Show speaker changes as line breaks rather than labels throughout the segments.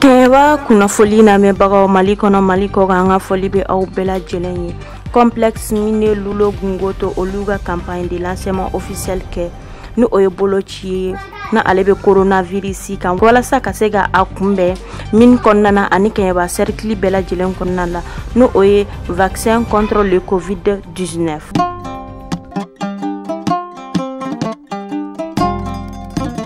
kɛɲɛba kunnafoli lamɛnbagaw mali kɔnɔ mali kɔkan an ka foli bɛ aw bɛɛ lajɛlen ye complexe mine loulo gounkoto olu ka campagne de lancement officiel kɛ ni o ye boloci ye na ale bɛ coronavirus kan walasa ka se ka a kunbɛn mine kɔnɔna na ani kɛɲɛba cercle bɛɛ lajɛlen kɔnɔna la n'o ye vaccin contre le covid 19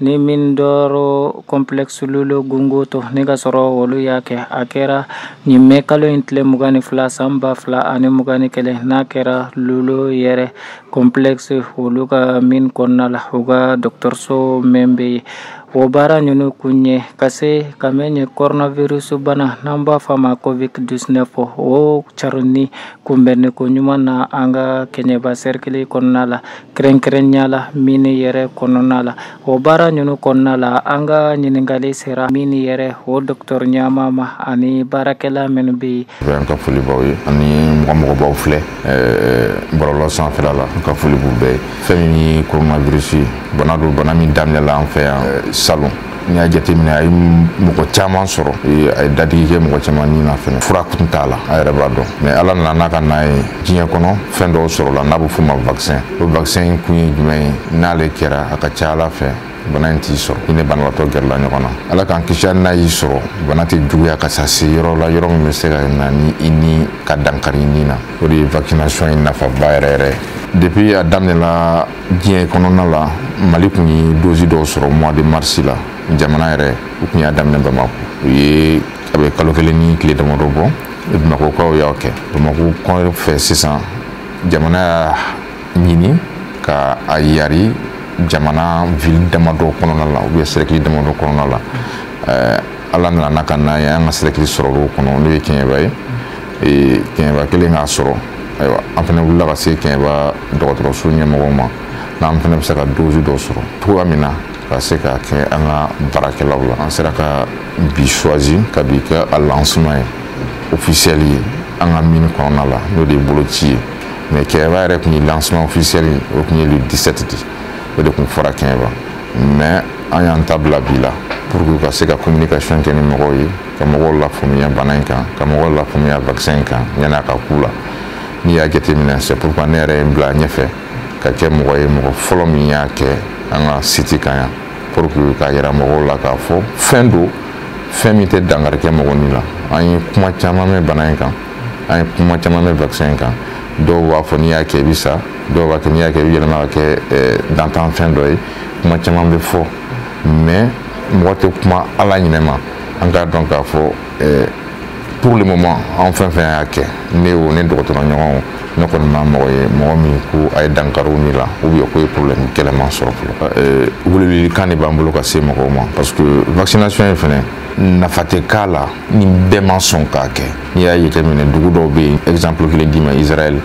ni mine d'or complexe loulo gounkoto n'i k'a sɔrɔ olu y'a kɛ a kɛra nin mɛ kalo in tile mugan ni fila san ba fila ani mugan ni kelen n'a kɛra loulo yɛrɛ complexe olu ka mine kɔnɔna la u ka dɔgɔtɔrɔso mɛn bɛ yen o baara ninnu kun ye ka se ka mɛn nin coronavirus bana n'an b'a fɔ a ma covid 19 o carinni kunbɛnniko ɲuman na an ka kɛɲɛba sɛrikili kɔnɔna la kɛrɛnkɛrɛnya la mine yɛrɛ kɔnɔna la o baara ninnu kɔnɔna la an ka ɲininkali sera mine yɛrɛ o dɔgɔtɔrɔ ɲɛmaa ma ani baarakɛla minnu bɛ yen an ka foli b'aw ye ani mɔgɔ mɔgɔ b'an filɛ bɔlɔlɔ sanfɛla la an ka foli b'u bɛɛ ye fɛn min ye coronavirus bana don bana min daminɛla an fɛ yan salon n'i y'a jateminɛ a ye mɔgɔ caman sɔrɔ a ye dankari kɛ mɔgɔ caman ni na fɛnɛ fura kun t'a la a yɛrɛ b'a dɔn mɛ ala nana n'a ka n'a ye diɲɛ kɔnɔ fɛn dɔw sɔrɔla n'a bɛ f'o ma vaccin o vaccin in kun ye jumɛn ye n'ale kɛra a ka ca ala fɛ bana in t'i sɔrɔ i ni banabaatɔ gɛrɛla ɲɔgɔn na ala k'an kisi n'a y'i sɔrɔ bana tɛ juguya ka sa se yɔrɔ la yɔrɔ min bɛ se ka na ni i ni ka dankari ni na o de ye vaccination ye nafaba yɛrɛ yɛrɛ depuis a daminɛna diɲɛ kɔnɔna la mali kun ye dozi dɔw sɔrɔ mois de marsi la jamana yɛrɛ u tun y'a daminɛ bamako u ye a bɛ kalo kelen ni tile damadɔ bɔ bamakokaw y'a kɛ bamako kɔfɛ sisan jamana y'a ɲini ka a yari jamana ville damadɔ kɔnɔna la ou bien sɛrɛkili damadɔ kɔnɔna la ala nana ka na ye an ka sɛrɛkili sɔrɔl'o kɔnɔ n'o ye kɛɲɛba ye ee kɛɲɛba kɛlen k'a sɔrɔ ayiwa an fana wulila ka se kɛɲɛba dɔgɔtɔrɔso ɲɛmɔgɔw ma n'an fana bɛ se ka dozi dɔ sɔrɔ cogoya min na ka se ka kɛ an ka baarakɛlaw la an sera ka bi choisi ka bi kɛ a lancement ye officiel ye an ka mine kɔnɔna la n'o de ye boloci ye mɛ kɛɲɛba yɛrɛ tun ye lancement officiel o tun ye le 17 de o de tun fɔra kɛɲɛba mɛ an y'an ta bila bi la pour que u ka se ka communication kɛ ni mɔgɔw ye ka mɔgɔw lafaamuya bana in kan ka mɔgɔw lafaamuya vaccin in kan yanni a ka k'u la n'i y'a jateminɛ c'est pourquoi ne yɛrɛ ye n bila ɲɛfɛ ka kɛ mɔgɔ ye mɔgɔ fɔlɔ min y'a kɛ an ka siti kan yan pour que k'a yira mɔgɔw la k'a fɔ fɛn don fɛn min tɛ dankari kɛ mɔgɔ ni la an ye kuma caman mɛn bana in kan an ye kuma caman mɛn vaccin in kan dɔw b'a fɔ n'i y'a kɛ i bɛ sa dɔw b'a kɛ n'i y'a kɛ i bɛ yɛlɛma ka kɛ dantanfɛn dɔ ye kuma caman bɛ fɔ mais mɔgɔ tɛ kuma ala ɲinɛ ma an k'a dɔn k'a fɔ eh, pour le moment an fɛn o fɛn y'a kɛ ne o ne dɔgɔtɔrɔ ɲɔgɔnw ne kɔni ma mɔgɔ ye mɔgɔ min ko a ye dankari u ni la ou bien k'u ye problème gɛlɛman sɔrɔ fɔlɔ eh, welewelekan de b'an bolo ka se mɔgɔw ma parce que vaccination ye fɛn ye nafa tɛ k'a la ni bɛɛ ma sɔn k'a kɛ n'i y'a jateminɛ dugu dɔw bɛ yen exemple kelen d'i ma israɛl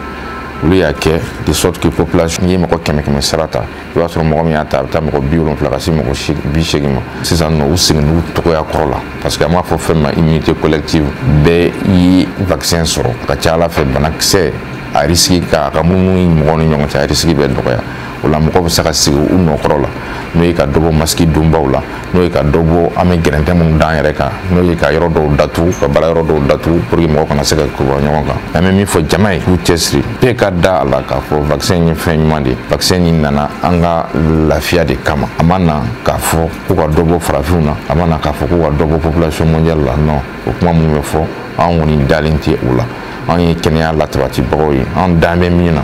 olu y'a kɛ de sorte que population n'i ye mɔgɔ kɛmɛ kɛmɛ sara ta i b'a sɔrɔ mɔgɔ min y'a ta a bɛ taa mɔgɔ bi wolonfila ka se mɔgɔ bi seegin ma sisan nɔ u seginna u cogoya kɔrɔ la parce que an b'a fɔ fɛn ma immunité collective bɛɛ ye vaccin sɔrɔ a ka ca a la fɛ banakisɛ a risiki ka a ka munumununi mɔgɔw ni ɲɔgɔn cɛ a risiki bɛ dɔgɔya o la mɔgɔ bɛ se ka segin u nɔ kɔrɔ la n'o ye ka dɔ bɔ masiki donbaw la n'o ye ka dɔ bɔ an bɛ gɛrɛntɛ minnu d'an yɛrɛ kan n'o ye ka yɔrɔ dɔw datugu ka baara yɔrɔ dɔw datugu pour que mɔgɔ kana se ka kuru ɲɔgɔn kan an bɛ min fɔ jama ye k'u cɛsiri bɛɛ ka da a la k'a fɔ vaccin ye fɛn ɲuman de ye vaccin nin nana an ka lafiya de kama a ma na k'a fɔ ko ka dɔ bɔ farafinw na a ma na k'a fɔ ko ka dɔ bɔ population mondiale la non o kuma minnu bɛ fɔ an kɔni dalen tɛ o la an ye kɛnɛya latabatibagaw ye an dan bɛ min na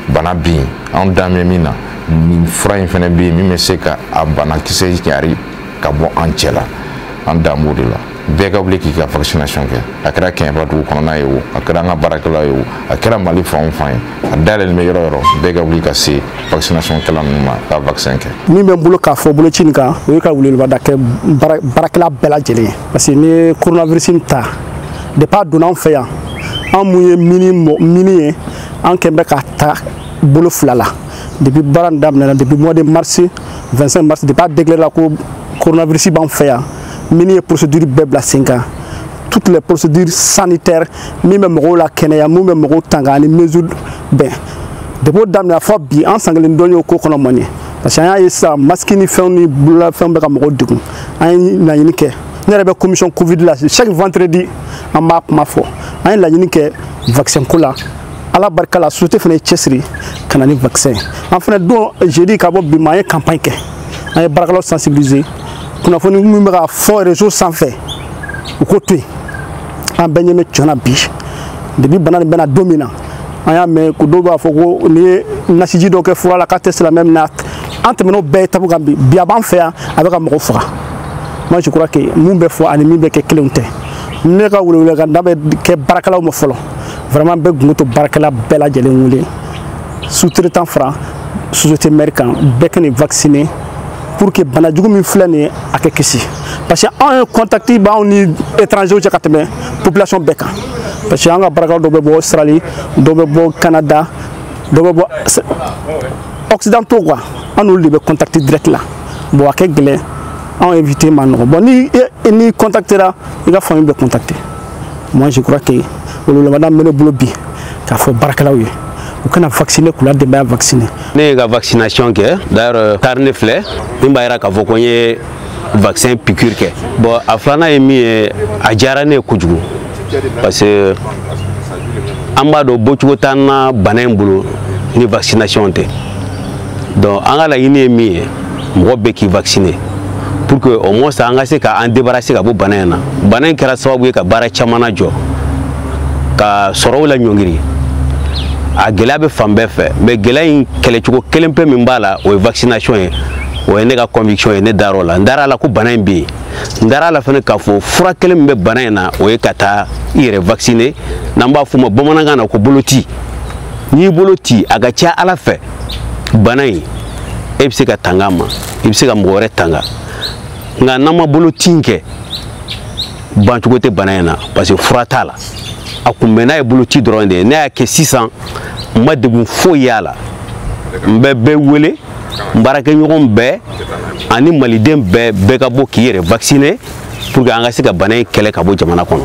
bana bɛ yen an dan bɛ min na nin fura in fana bɛ yen min bɛ se ka a banakisɛ cari ka bɔ an cɛ la an dan b'o de la bɛɛ ka wuli k'i ka vaccination kɛ a kɛra kɛɲɛba dugu kɔnɔna ye o a kɛra an ka baarakɛla ye o a kɛra mali fan o fan ye a dayɛlɛlen bɛ yɔrɔ o yɔrɔ bɛɛ ka wuli ka se vaccination kɛla ninnu ma ka vaccin kɛ min bɛ n bolo k'a fɔ boloci nin kan o ye ka welewele da kɛ baarakɛla bɛɛ lajɛlen ye parce que n'i ye coronavirus nin ta depuis a donna an fɛ yan an min ye mine ye an kɔni bɛ k'a ta bolo fila la depuis bana nin daminɛna depuis mois de mars 25 mars depuis a déclarera ko coronavirus b'an fɛ yan mine ye procédure bɛɛ bila sen kan toutes les procédures sanitaires min bɛ mɔgɔw lakɛnɛya min bɛ mɔgɔw tanga ani mesure bɛn depuis o daminɛna fo bi an san kelen dɔn y'o ko kɔnɔ mɔni parce que an y'a ye sisan masque ni fɛnw ni bololafɛnw bɛ ka mɔgɔw degun an ye laɲini kɛ ne yɛrɛ bɛ commission covid la chaque vendredi an b'a kuma fɔ an ye laɲini kɛ vaccin ko la ala barika la société fana y'i cɛsiri ka na ni vaccin ye an fana don jeudi ka bɔ bi ma an ye campagne kɛ an ye baarakɛlaw sensibiliser kunnafoni min bɛ ka fɔ réseau sanfɛ u k'o to yen an bɛɛ ɲɛ bɛ cɛn na bi depuis bana nin bɛ na don min na an y'a mɛn ko dɔw b'a fɔ ko n'i ye nasiji dɔ kɛ fura la k'a tɛ silamɛ minɛ an tɛmɛn'o bɛɛ étape kan bi bi a b'an fɛ yan a bɛ ka mɔgɔw faga moi je crois que min bɛ fɔ ani min bɛ kɛ kelenw tɛ ne ka welewelekan da bɛ kɛ baarakɛlaw ma fɔlɔ vraiment n bɛ Gounkoto baarakɛla bɛɛ lajɛlen wele sous-traitant fara société mère kan bɛɛ ka n'i vacciner pour que bana jugu min filɛ nin ye an ka kisi parce que anw ye contact b'anw ni étrangers cɛ ka tɛmɛ population bɛɛ kan parce que an ka baarakɛlaw dɔ bɛ bɔ Australie dɔ bɛ bɔ Canada dɔ bɛ bɔ occidentaux quoi an n'olu de bɛ contact direct la bon a ka gɛlɛn a éviter man nɔgɔn bon ni e, e n'i contactera i ka famille bɛ contacter moi je crois que weleweleda min bɛ ne bolo bi k'a fɔ baarakɛlaw ye u ka na vacciner k'u la denbaya vacciner ne ye n ka vaccination kɛ d'ailleurs carnet filɛ min b'a jira k'a fɔ ko n ye vaccin piqûre kɛ bon a filanan ye min ye a diyara ne ye kojugu parce que an b'a dɔn bɔcogo t'an na bana in bolo ni vaccination tɛ donc an ka laɲini ye min ye mɔgɔ bɛɛ k'i vacciner pour que au moins an ka se ka an débarrasser ka bɔ bana in na bana in kɛra sababu ye ka baara caman lajɔ ka sɔrɔw laɲɔngiri a gɛlɛya bɛ fan bɛɛ fɛ mais gɛlɛya in kɛlɛcogo kelen pe min b'a la o ye vaccination ye o ye ne ka conviction ye ne dar'o la n dar'a la ko bana in bɛ yen n dar'a la fana k'a fɔ fura kelen min bɛ bana in na o ye ka taa i yɛrɛ vacciner n'an b'a f'o ma bamanankan na ko boloci n'i boloci a ka ca ala fɛ bana in i bɛ se ka tanga a ma i bɛ se ka mɔgɔ wɛrɛ tanga nka n'an ma boloci in kɛ bancogo tɛ bana in na parce que fura t'a la a kunbɛnnan ye boloci dɔrɔn de ye ne y'a kɛ sisan n ma degun foyi y'a la n bɛ bɛɛ wele n baarakɛɲɔgɔn bɛɛ ani maliden bɛɛ bɛɛ ka bɔ k'i yɛrɛ vacciner pour que an ka se ka bana in kɛlɛ ka bɔ jamana kɔnɔ